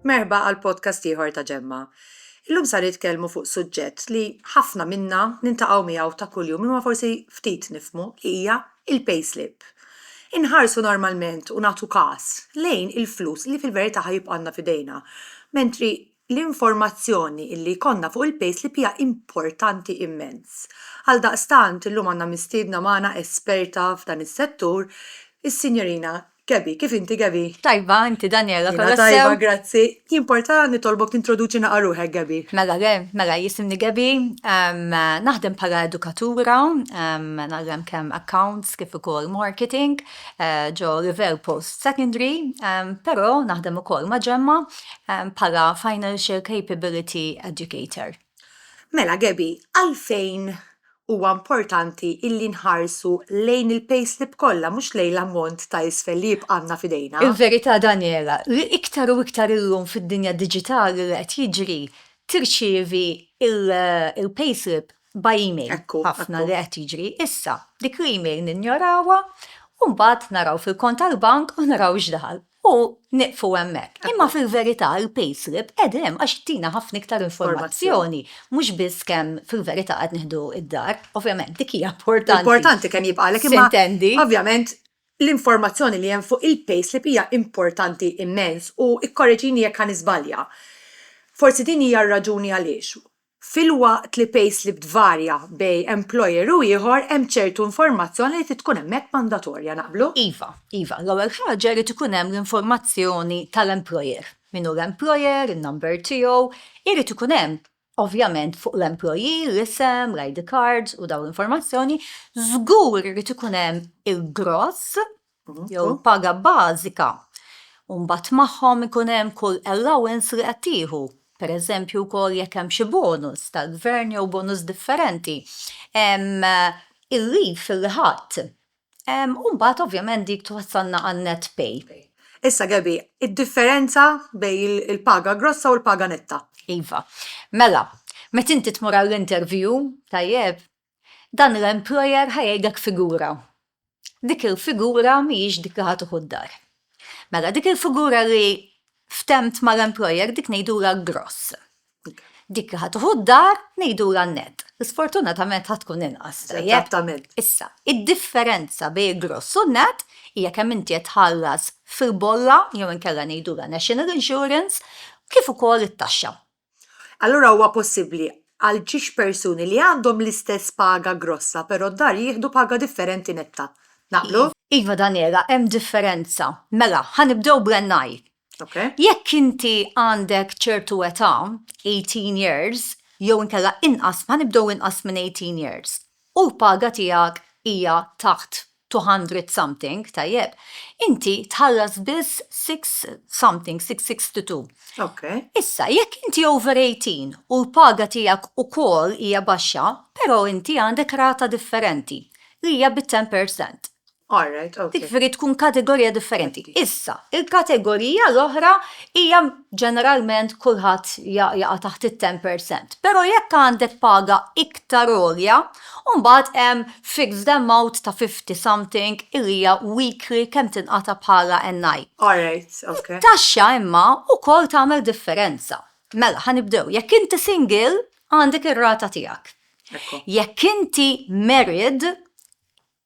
Merba għal podcast ieħor ta' ġemma. Illum sa nitkellmu fuq suġġett li ħafna minna nintaqgħu miegħu ta' kuljum imma forsi ftit nifmu li hija il-payslip. Inħarsu normalment u nagħtu każ lejn il-flus li fil-verità ħajibqanna fidejna, mentri l-informazzjoni li jkollna fuq il-payslip hija importanti immens. Għaldaqstant, illum għandna mistiedna magħna esperta f'dan is-settur, is-Sinjorina Gabby. Kif inti, Gabby? Tajba, inti Daniela, kollha sew? Jiena tajba, grazzi. Jimporta nitolbok tintroduċi naqra ruħek, Gabby? Mela le, mela jisimni Gabby, naħdem bħala edukatura, nagħllem kemm accounts kif ukoll marketing. ġo River Post Secondary, però naħdem ukoll ma' Ġemma bħala Financial Capability Educator. Mela Gaby, għalfejn huwa importanti illi nħarsu lejn il-payslip kollha mhux lejn l-ammont ta' isfel li jibqa' għandna f'idejna? Il-verità Daniela, li iktar u iktar illum fid-dinja diġitali li qed jiġri tirċievi l-payslip by email. Ħafna li qed jiġri issa. Dik l-email ninjorawha u mbagħad naraw fil-kont tal-bank u naraw x'daħal. U nieqfu hemmhekk. Imma fil-verità il-payslip qiegħda hemm għax ttina ħafna iktar informazzjoni mhux biss kemm fil-verità qed nieħdu d-dar. Ovvjament dik hija importanti. Importanti kemm jibqgħalek imma. S'intendi. Ovvjament l-informazzjoni li hemm fuq il-payslip hija importanti immens u kkoreġini jekk ħa niżbalja. Forsi din hija r-raġuni għaliex Filwaqt li payslip tvarja bej employer u ieħor, hemm ċertu informazzjoni li trid tkun hemmhekk mandatorja. Naqblu? Iva, iva. L-ewwel ħaġa jrid ikun hemm l-informazzjoni tal-employer. Min hu l-employer, in-number tiegħu. Irid ikun hemm, ovvjament, fuq l-employee, l-isem, l-ID cards u dawn l-informazzjoni. Żgur irid ikun hemm il-gross jew paga bażika, u mbagħad magħhom ikun hemm kull allowance li qed tieħu, pereżempju wkoll jekk hemm xi bonus tal-Gvern jew bonus differenti, il-leave li ħadt, u mbagħad ovvjament dik twassalna għan-net pay. Issa Gabby, id-differenza bejn il-paga grossa u l-paga netta. Iva. Mela, meta inti tmur għall-interview, tajjeb, Dan l-employer ħa jgħidlek figura. Dik il-figura mhijiex dik li ħa tieħu d-dar. Mela dik il-figura li ftemt mal-employer dik ngħidulha l-gross. Dik li ħa tieħu d-dar ngħidulha n-net. Sfortunatament ħa tkun inqas. Eżattament. Issa, id-differenza bejn il-gross u n-net hija kemm inti qed tħallas fil-bolla jew inkella ngħidulha national insurance kif ukoll it-taxxa. Allura huwa possibbli għal ġiex persuni li għandhom l-istess paga grossa però d-dar jieħdu paga differenti netta. Naqblu? Iva Daniela, hemm differenza. Mela, ħa nibdew bl-NI. Jekk inti għandek ċertu età, eighteen years, jew inkella inqas, ħa nibdew inqas minn eighteen years, u l-paga tiegħek hija taħt two hundred something, tajjeb, inti tħallas biss six something, six sixty two. Ok. Issa, jekk inti over eighteen u l-paga tiegħek ukoll hija baxxa, però inti għandek rata differenti li hija bit-ten per cent. All right, ok. Dik jiġifieri tkun kategorija differenti. Issa, il-kategorija l-oħra hija ġeneralment kulħadd jaqa' taħt it-ten per cent. Però jekk għandek paga iktar għolja, U mbagħad hemm fixed amount ta' fifty something li hija weekly kemm tinqata' bħala NI. Alright, ok. It-taxxa imma wkoll tagħmel differenza. Mela, ħa nibdew. Jekk inti single, għandek ir-rata tiegħek. Jekk inti married,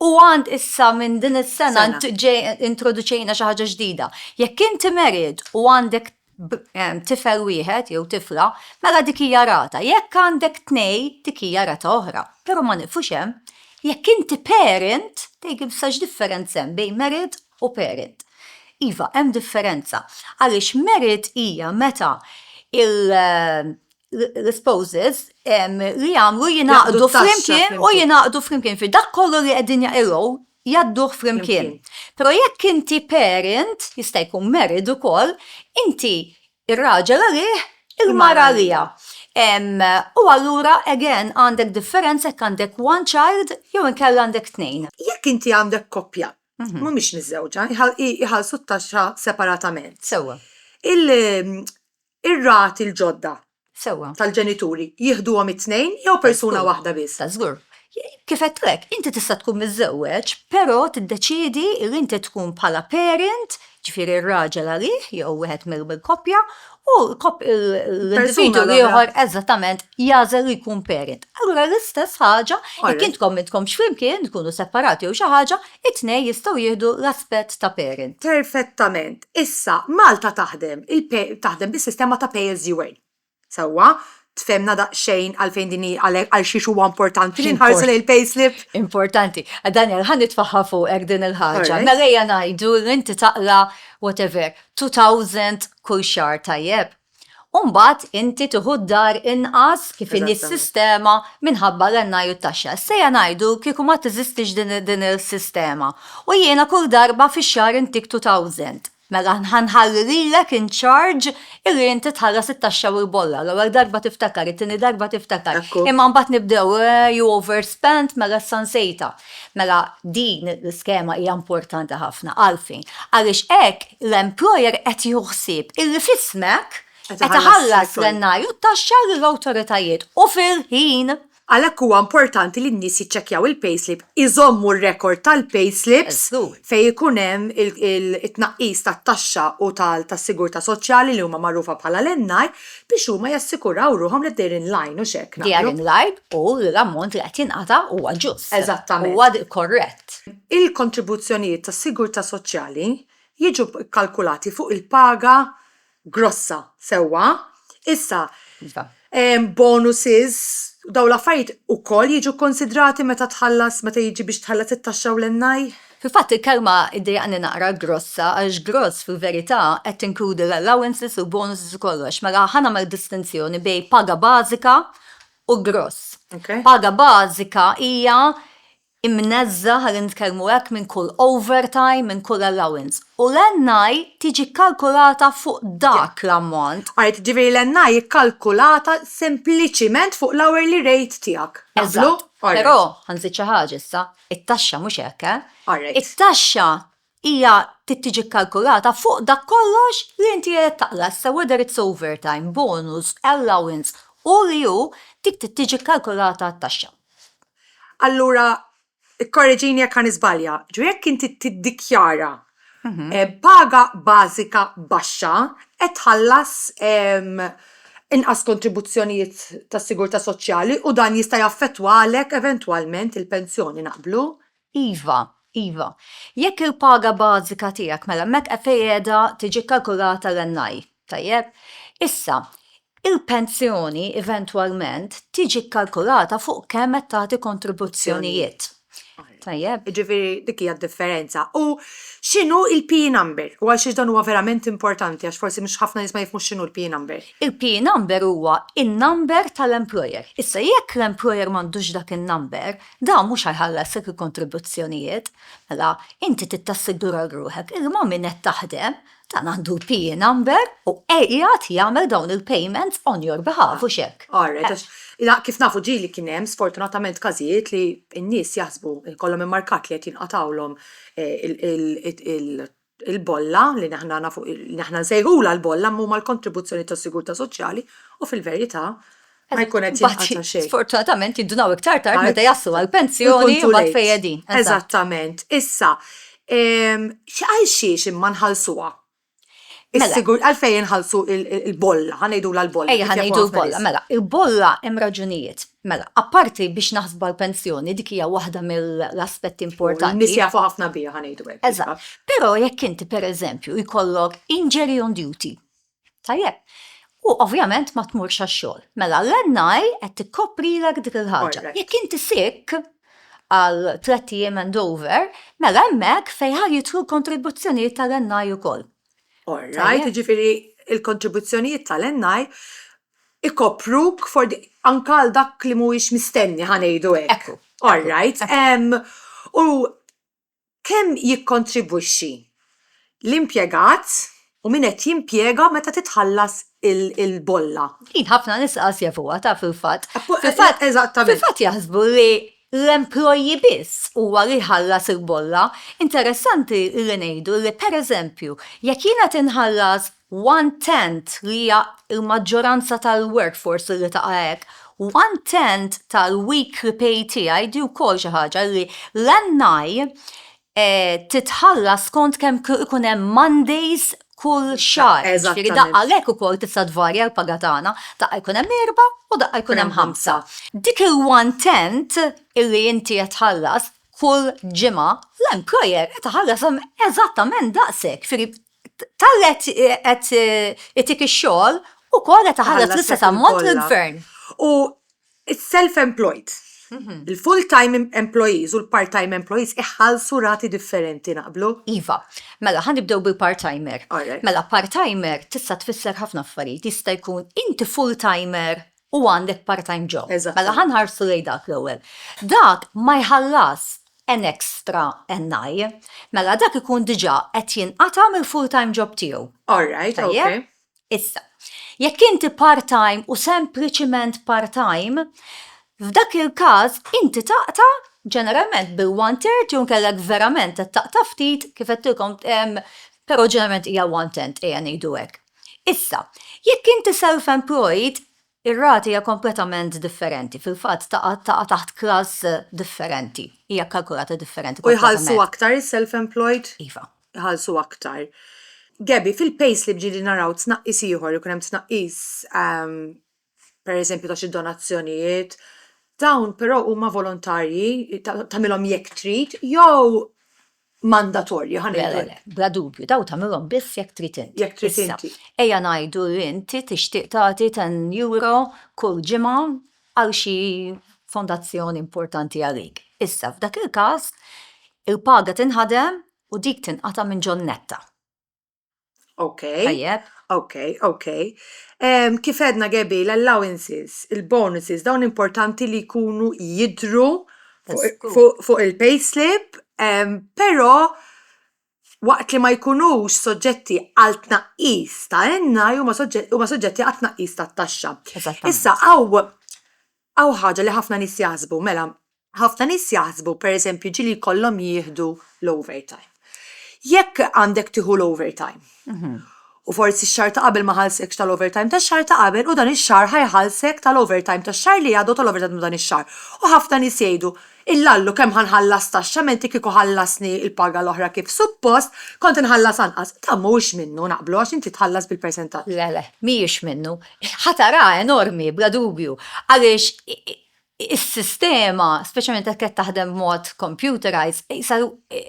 U għand issa minn din is-sena Sena. int ġej introduċejna xi ħaġa ġdida. Jekk inti married u għandek b- em, tifel wieħed jew tifla, mela dik hija rata. Jekk għandek tnejn, dik hija rata oħra. Però ma nieqfux hemm. Jekk inti parent, tgħidli issa x'differenza hemm bejn married u parent. Iva, hemm differenza. Għaliex married hija meta il- l-spouses li jagħmlu jingħaqdu flimkien u jingħaqdu flimkien fi dak kollu li qegħdin jaqilgħu jadduh flimkien. Però jekk inti parent, jista' jkun married ukoll, inti ir-raġel għalih il-mara għalija. U allura again għandek differenza jekk għandek one child jew inkella għandek tnejn. Jekk inti għandek koppja, mhm. mhumiex miżżewġa, jħallsu t-taxxa separatament. Sewwa. ir-rati l-ġodda Sewwa. tal-ġenituri jieħduhom it-tnejn jew persuna waħda biss? Ta' żgur. Kif għedtu hekk, inti tista' tkun miżżewweġ, però tiddeċiedi li inti tkun bħala parent, ġifieri r-raġel għalih jew wieħed mill-koppja, u l-individwu l-ieħor eżattament jagħżel li jkun parent. Allura l-istess ħaġa, jekk intkom m'intkomx flimkien, tkunu separati jew xi ħaġa, it-tnejn jistgħu jieħdu l-aspett ta' parent. Perfettament. Issa, Malta taħdem il taħdem bis-sistema ta' pay as you earn. Sewwa, tfehmna daqsxejn għalfejn din hi għalhekk għal xiex huwa importanti li nħarsu lejn il-payslip? Importanti. Daniel, ħa nitfagħha fuqek din il-ħaġa. Mela ejja ngħidu li inti taqra whatever, 2,000 kull xahar, tajjeb? U mbagħad inti tieħu d-dar inqas kif inhi s-sistema minħabba l-NI u t-taxxa. Issejja ngħidu kieku ma teżistix din is-sistema u jiena kull darba fix-xahar intik 2000. Mela ħa nħalli lilek in charge illi inti tħallas it-taxxa u l-bolla. L-ewwel darba tiftakar, it-tieni darba tiftakar. Imma mbagħad nibdew, eh, you overspent, mela issa nsejtha. Mela din l-iskema hija importanti ħafna. Għalfejn? Għaliex hekk l-employer qed jieħu ħsieb illi f'ismek qed iħallas l-NI u t-taxxa lill-awtoritajiet u fil-ħin. Għalhekk huwa importanti li n-nies jiċċekkjaw il-payslip, iżommu r-rekord tal-payslips fejn ikun hemm it-tnaqqis tat-taxxa u tas-sigurtà soċjali li huma magħrufa bħala l-NI, biex huma jassikuraw ruħhom li they're in line, hux hekk naqblu? They are in line u l-ammont li qed jingħata huwa ġust. Eżattament. Huwa korrett. Il-kontribuzzjonijiet tas-sigurtà soċjali jiġu kkalkulati fuq il-paga grossa, sewwa? Issa, Iva. bonuses, dawn l-affarijiet ukoll jiġu kkunsidrati meta tħallas, meta jiġi biex tħallas it-taxxa u l-NI? Fil-fatt il-kelma iddejjaqni naqra grossa għax gross fil-verità qed tinkludi l-allowances u l-bonuses u kollox. Mela ħa nagħmel distinzjoni bejn paga bażika u gross. Paga bażika hija imneżża, ħalli nitkellmu hekk, minn kull overtime, minn kull allowance. U l-NI tiġi kkalkulata fuq dak l-ammont. Right, jiġifieri l-NI hi kkalkulata sempliċiment fuq l-hourly rate tiegħek. Naqblu? Eżatt. Però ħa nżid xi ħaġa issa. It-taxxa mhux hekk, eh? Alright. It-taxxa hija trid tiġi kkalkulata fuq dak kollox li inti qiegħed taqla issa whether it's overtime, bonus, allowance, hu li hu, dik trid tiġi kkalkulata t-taxxa. Allura, ikkorreġini jekk ħa niżbalja, ġifieri jekk inti tiddikjara paga bażika baxxa qed tħallas inqas kontribuzzjonijiet tas-sigurtà soċjali u dan jista' jaffettwa għalhekk eventwalment il-pensjoni. Naqblu? Iva, iva. Jekk il-paga bażika tiegħek, mela hemmhekk fejn qiegħda tiġi kkalkulata l-NI, Tajjeb. Issa, il-pensjoni eventwalment tiġi kkalkulata fuq kemm qed tagħti kontribuzzjonijiet. Tajjeb. Jiġifieri dik hija d-differenza. U x'inhu l-PE number? U għal xiex dan huwa verament importanti għax forsi mhux ħafna nies ma jifhmux x'inhu l-PE number. Il-PE number huwa n-number tal-employer. Issa jekk l-employer m'għandux dak in-number, dan mhux ħa jħallasek il-kontribuzzjonijiet. Mela, inti trid tassigura lil ruħek illi ma' min qed taħdem Dan għandu l-PIN number u qiegħed jagħmel dawn il-payments on your behalf, hux hekk? All right, għax ila kif nafu ġieli kien hemm sfortunatament każijiet li n-nies jaħsbu jkollhom immarkat li qed jinqatgħulhom il-bolla li aħna nafu li aħna nsejħulha l-bolla imma huma l-kontribuzzjonijiet tas-sigurtà soċjali u fil-verità ma jkun qed jinqata' xejn. Sfortunatament jindunaw iktar tard meta jaslu għall-pensjoni u mbagħad fejn qegħdin. Eżattament. Issa, ehm, għal xiex imma nħallsuha? Mela. Is-sigur għalfejn inħallsu l-bolla, ħa ngħidulha l-bolla. Ejja, ħa ngħidu l-bolla, mela. Il-bolla hemm raġunijiet. Mela, apparti biex naħsbu għall-pensjoni, dik hija waħda mill-aspetti importanti. Nies jafu ħafna biha, ħa ngħidu hekk. Eżatt. Però jekk inti pereżempju jkollok injury on duty, Tajjeb. U ovvjament ma tmurx għax-xogħol. Mela l-NI qed tikkoprilek dik il-ħaġa. Jekk inti sick għal tliet ijiem and over, mela hemmhekk fejn ħa jidħlu l-kontribuzzjonijiet tal-NI ukoll. All right, jiġifieri l-kontribuzzjonijiet tal-NI ikopruk for the anke għal dak li mhuwiex mistenni ħa ngħidu hekk. All right. U kemm jikkontribwixxi l-impjegat u min qed jimpjega meta titħallas il-bolla. Din ħafna nies qas jafuha, taf fil-fatt. Eżattament. Fil-fatt jaħsbu li l-employee biss huwa li jħallas il-bolla. Interessanti li ngħidu li pereżempju jekk jiena qed inħallas one tenth li hija l-maġġoranza tal-workforce li taqa' hekk, one tenth tal-weekly pay tiegħi di wkoll xi ħaġa li l-NI titħallas skont kemm ikun hemm Mondays kull xahar. Ġifieri daqqa għalhekk ukoll tista' tvarja l-paga tagħna, daqqa jkun hemm erbgħa u daqqa jkun hemm ħamsa. Dik il-one tenth illi inti qed tħallas kull ġimgħa, l-employer qed iħallas eżattament daqshekk, jifieri tal qed itik ix-xogħol ukoll qed iħallas l-istess ammont lill-gvern. U self-employed, mhm. il-full-time employees u l-part-time employees iħallsu rati differenti naqblu? Iva, mela ħan nibdew bil-part-timer. Mela part-timer tista' tfisser ħafna affarijiet, jista' jkun inti full-timer u għandek part-time job. Mela ħa nħarsu lejn dak l-ewwel. Dak ma jħallasx an extra NI. Mela dak ikun diġà qed jinqata' mill-full-time job tiegħu. Tajjeb? Issa, jekk inti part-time u sempliċiment part-time, f'dak il-każ inti taqta' ġeneralment bil-one third jew inkella jekk verament qed taqta' ftit, kif għedtilkom, però ġeneralment hija one tenth, ejja ngħidu hekk. Issa, jekk inti self-employed, ir-rata hija kompletament differenti, fil-fatt taqa' taqa' taħt class differenti, hija kkalkulata differenti U jħallsu aktar is-self-employed? Iva. Iħallsu aktar. Gabby, fil-payslip ġieli naraw tnaqqis ieħor, ikun hemm tnaqqis pereżempju ta' xi donazzjonijiet, dawn però huma volontarji, tagħmilhom jekk trid, jew mandatorji, ħa ngħidu hekk. Bla dubju, dawn tagħmilhom biss jekk trid inti. Jekk trid inti. Ejja ngħidu li inti tixtieq tagħti ten euro kull ġimgħa għal xi fondazzjoni importanti għalik. Issa, f'dak il-każ, il-paga tinħadem u dik tinqata' minn ġol-netta. Ok. Tajjeb. Ok, ok. Um, kif edna gebi, l-allowances, il-bonuses, dawn importanti li jkunu jidru fuq il-payslip, um, pero waqt li ma jkunux soġġetti għal tnaqqis ta' enna huma soġġetti għal tnaqqis ta' taxxa. Issa għaw Hawn ħaġa li ħafna nies jaħsbu, mela, ħafna nies jaħsbu, per eżempju, ġieli jkollhom jieħdu l-overtime. Jekk għandek tieħu l-overtime, u forsi x-xahar ta' qabel ma ħallsekx tal-overtime tax-xahar ta' qabel u dan ix-xahar ħa jħallsek tal-overtime tax-xahar li għadu u tal-overtime ta' dan ix-xahar. U ħafna nies jgħidu, Illallu kemm ħa nħallas taxxa menti kieku ħallasni l-paga l-oħra kif suppost, kont inħallas anqas. Dan mhuwiex minnu, naqblu, għax inti tħallas bil-persentaġġ. Le, le, mhijiex minnu. Ħatara enormi, bla dubju, għaliex is-sistema, speċjalment jekk qed taħdem b'mod computerized, qisha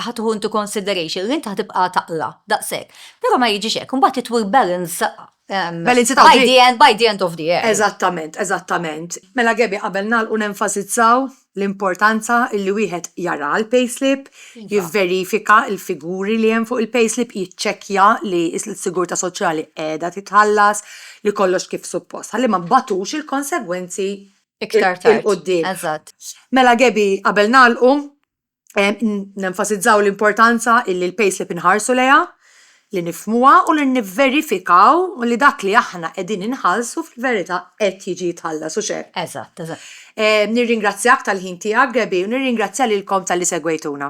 ħa tieħu into consideration li int ħa tibqa' taqla' daqshekk. Però ma jiġix hekk, imbagħad titwi l-balance Um, by, the end, by the end of the year. Eżattament, eżattament. Mela Gebi, qabel nalqu nenfasizzaw l-importanza li wieħed jara l-payslip, iva. jivverifika l-figuri li hemm fuq il-payslip, jiċċekkja li s-sigurta soċjali qiegħda titħallas, li kollox kif suppost. Ħalli ma batux il-konsegwenzi iktar tard. Eżatt. Mela Gebi, qabel nalqu, nenfasizzaw l-importanza illi l-payslip inħarsu lejha, li nifhmuha u li nivverifikaw li dak li aħna qegħdin inħallsu fil-verità qed jiġi jitħallas, hux hekk? Eżatt, eżatt. Nirringrazzjak tal-ħin tiegħek, Gabby, u nirringrazzja lilkom talli segwejtuna.